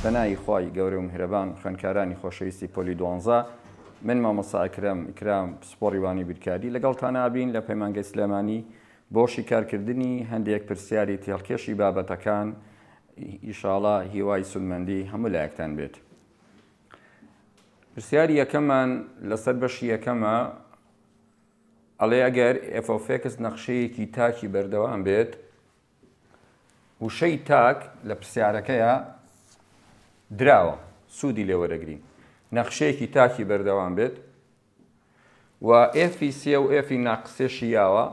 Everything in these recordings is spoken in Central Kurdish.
پەنای خوای گەورەو میهرەبان خوێنکارانی خۆشەویستی پۆلی دوانزە من مامۆستا ئەکرەم ئیکرام پسپۆری وانی بیرکاری لەگەڵتان ئابین لە پەیمانگەی سلێمانی بۆ شیکارکردنی هەندێک پرسیاری تێڵکێشی بابەتەکان ئیشاڵا هیوای سولمەندی هەموو لایەکتان بێت پرسیاری یەکەمان لەسەر بەشی یەکەمە ئەڵێ ئەگەر ئفۆفێکس نەخشەیەکی تاکی بەردەوام بێت وشەی تاک لە پرسیارەکەیا دراوە سوودی لێوەرەگرین نەخشەیەکی تاکی بەردەوام بێت و ئێفی سێ و ئێفی ناقسێشی یاوە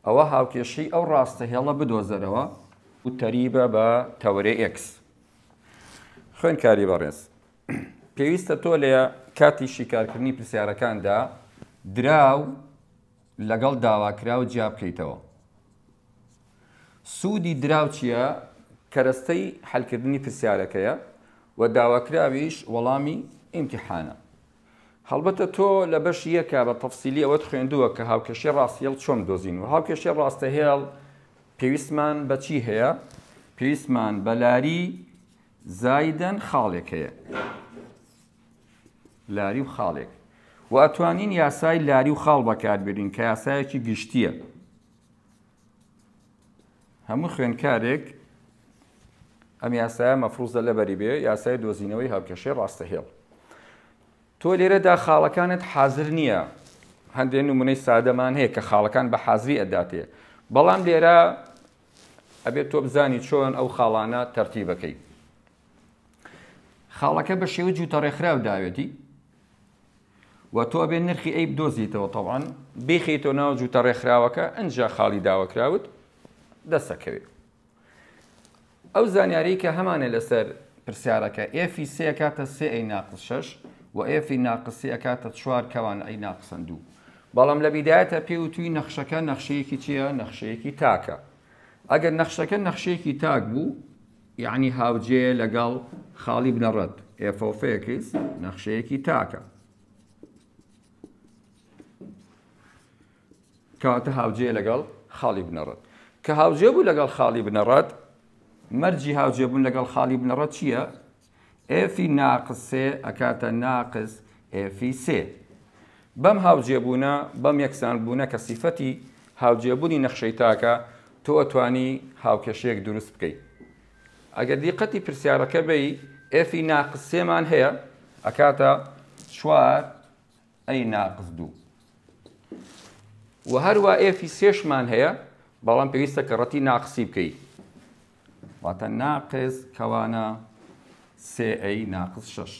ئەوە هاوکێشی ئەو ڕاستە هێڵە بدۆزەرەوە و تەریبە بە تەورێ ئکس خوێنکاری بەڕێز پێویستە تۆ لە کاتی شیکارکردنی پرسیارەکاندا دراو لەگەڵ داواکراو جیا بکەیتەوە. سوودی دراو چییە؟ کەرەستەی حەلکردنی پرسیارەکەیە و داواکراویش وەڵامی ئیمتیحانە. هەڵبەتە تۆ لە بەش یەکا بە تەفسیلی ئەوەت خوێندووە کە هاوکێشەی ڕاستهێڵ چۆن بدۆزین و هاوکێشەی ڕاستەهێڵ پێویستمان بە چی هەیە؟ پێویستمان بە لاری زایدەن خاڵێک هەیە. لاری و خاڵێک و ئەتوانین یاسای لاری و خاڵ بەکاربێنین کە یاسایەکی گشتیە هەموو خوێنکارێک ئەم یاسایە مەفروزە لەبەری بێ یاسای دۆزینەوەی هاوکێشەی ڕاستە هێڵ تۆ لێرەدا خاڵەکانت حازر نییە هەندێک نمونەی سادەمان هەیە کە خاڵەکان بە حازری ئەداتێ بەڵام لێرە ئەبێت تۆ بزانی چۆن ئەو خاڵانە تەرتیبەکەی خاڵەکە بە شێوەی جووتە ڕێکخراو داوێتی و تۆ ئەبێ نرخی ئەی بدۆزیتەوە تەوان بیخیتەوە ناو جووتە ڕێکخراوەکە ئەجا خاڵی داوەکراوت دەسەکەوێت ئەو زانیاری کە هەمانە لەسەر پرسیارەکە ئێفی سێ کاتە سێ ئەی ناقص شش و ئێفی ناقسی ئەکاتە چوار کەوان ئەی ناقسەن دوو بەڵام لە بیدایەتە پێ و توی نەخشەکە نەخشەیەکی چییە نەخشەیەکی تاکە ئەگەر نەخشەکە نەخشەیەکی تاک بوو یەعنی هاوجێیە لەگەڵ خاڵی بنەڕەت، ئێف ئۆف ئێکس نەخشەیەکی تاکە. کەواتە هاوجێ لەگەڵ خاڵی بنەڕەت کە هاوجێ بوو لەگەڵ خاڵی بنەڕەت مەرجی هاوجێبوون لەگەڵ خاڵی بنەڕەت چییە؟ ئێفی ناقس سێ ئەکاتە ناقس ئێفی سێ. بەم هاوجێبوونە، بەم یەکسانبوونە کە سیفەتی هاوجێبوونی نەخشەی تاکە، تۆ ئەتوانی هاوکێشەیەک دروست بکەی. ئەگەر دیقەتی پرسیارەکە بەی، ئێفی ناقس سێمان هەیە ئەکاتە چوار ئەی ناقس دوو. وە هەروا ئێفی سێشمان هەیە، بەڵام پێویستە کەڕەتی ناقسی بکەی. واتە ناقس کەوانە سێ ئەی ناقس شەش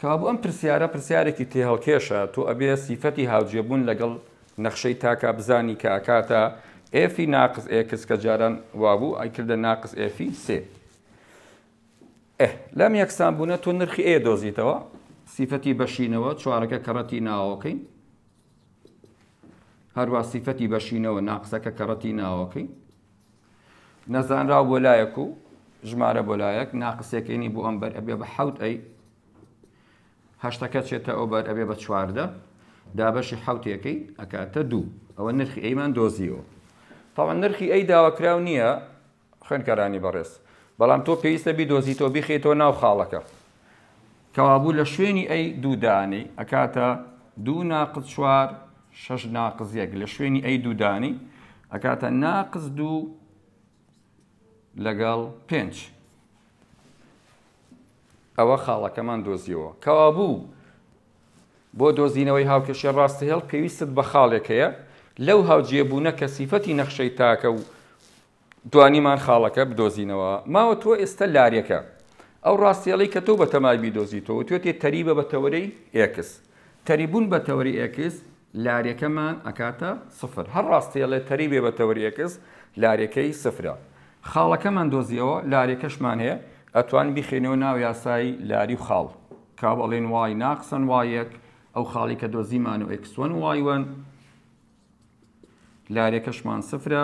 کابوو ئەم پرسیارە پرسیارێکی تێهەڵکێشە تۆ ئەبێ سیفەتی هاوجێبوون لەگەڵ نەخشەی تاکە بزانی کە ئەکاتە ئێفی ناقس ئێکس کە جاران وابوو ئەیکردە ناقس ئێفی سێ لەم یەکسان بوونە تۆ نرخی ئێ دۆزیتەوە سیفەتی بەشینەوە چوارەکە کەڕەتی ناوەکەین هەروا سیفەتی بەشینەوە ناقسەکە کەڕەتی ناوەکەی نەزانراو بۆ لایەک و ژمارە بۆ لایەک ناقسەکەینی بۆ ئەمبەر ئەبێ بە حەوت ئەی هەشتەکە چێتە ئەوبەر ئەبێ بە چواردە دابەشی حوتێکەکەی ئەکاتە دوو ئەوە نرخی ئەیمان دۆزیەوە تاوان نرخی ئەی داواکراو نییە خوێندکارانی بەڕێز بەڵام تۆ پێویستە بیدۆزیتەوە بیخەیتەوە ناو خاڵەکە کەوابوو لە شوێنی ئەی دوو دانەی ئەکاتە دوو ناقز چوار شەش ناقز یەک لە شوێنی ئەی دوو دانی ئەکاتە ناقز دوو لەگەڵ پێنج ئەوە خاڵەکەمان دۆزیەوە کەوا بوو بۆ دۆزینەوەی هاوکێشە ڕاستە هێڵ پێویستت بە خاڵێک هەیە لەو هاوجێبوونە کە سیفەتی نەخشەی تاکە و توانیمان خاڵەکە بدۆزینەوە. ماوە تۆ ئێستە لارێکە. ئەو ڕاستێڵەی کە تۆ بە تەمای بیدۆزیتەوە وتوێتی تەریبە بە تەوەرەی ئێکس. تەریبوون بە تەوەرەی ئێکس لارێکەمان ئەکاتە سفر. هەر ڕاستێڵێ تەریبێ بە تەوەری ئێکس لارێکەی سفرە. خاڵەکەمان دۆزیەوە، لارێکەشمان هەیە. ئەتوانن بیخەینەوە ناو یاسای لاری و خاڵ. کە ئەڵێن وای ناقسەن وای یەک، ئەو خاڵەی کە دۆزیمانەوە ئێکس وەن وای وەن. لارێکەشمان سفرە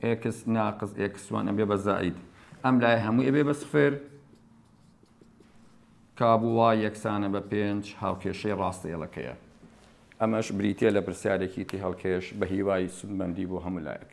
ئێکس ناقز ئێکس وان ئەبێ بە زائید ئەم لای هەموو ئەبێ بە سفر کابووە یەکسانە بە پێنج هاوکێشەی ڕاستە ئێڵەکەیە ئەمەش بریتە لە پرسیارێکی تی هەڵکێش بە هیوای سودمەندی بۆ هەموو لایەک.